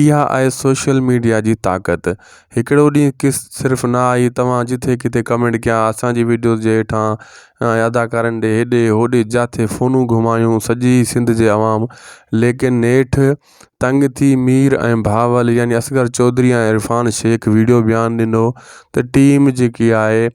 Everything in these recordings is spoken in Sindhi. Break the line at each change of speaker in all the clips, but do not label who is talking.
اها آهي سوشل ميڊيا جي طاقت هڪڙو ڏينهن ڪس صرف نه آئي توهان جٿي ڪٿي ڪمينٽ ڪيا اسان جي ويڊيوز جي هيٺان اداڪارن ڏي هيڏي هوڏي جاٿي فونون گهمايون سڄي سنڌ جي عوام ليڪن نيٺ تنگ ٿي مير ۽ بهاول يعني اصغر چوڌري ۽ عرفان شيخ ويڊيو بيان ڏنو ته ٽيم جيڪي آهي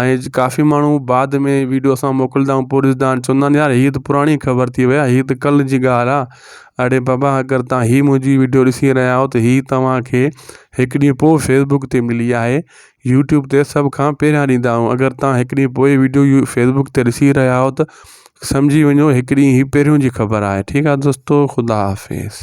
۽ ڪافي ماڻهو بعد ۾ ويڊيو اسان موڪلندا آهيون پوء ڏسندا آهن چوندا آهن يار هي ته پراڻي خبر ٿي وئي هي ته ڪل جي ڳالهه آهي اڙي بابا اگر تان هي منهنجي ويڊيو ڏسي رهيا آهيو ته هي توهان کي هڪ ڏينهن پوء فيسبوڪ تي ملي آهي يوٽيوب تي سڀ کان پهريان ڏيندا آهيون اگر تان هڪ ڏينهن پوء ويڊيو فيسبوڪ تي ڏسي رهيا آهيو ته سمجهي وڃو هڪ ڏينهن هي پهريون جي خبر آهي ٺيڪ آهي دوستو خدا حافظ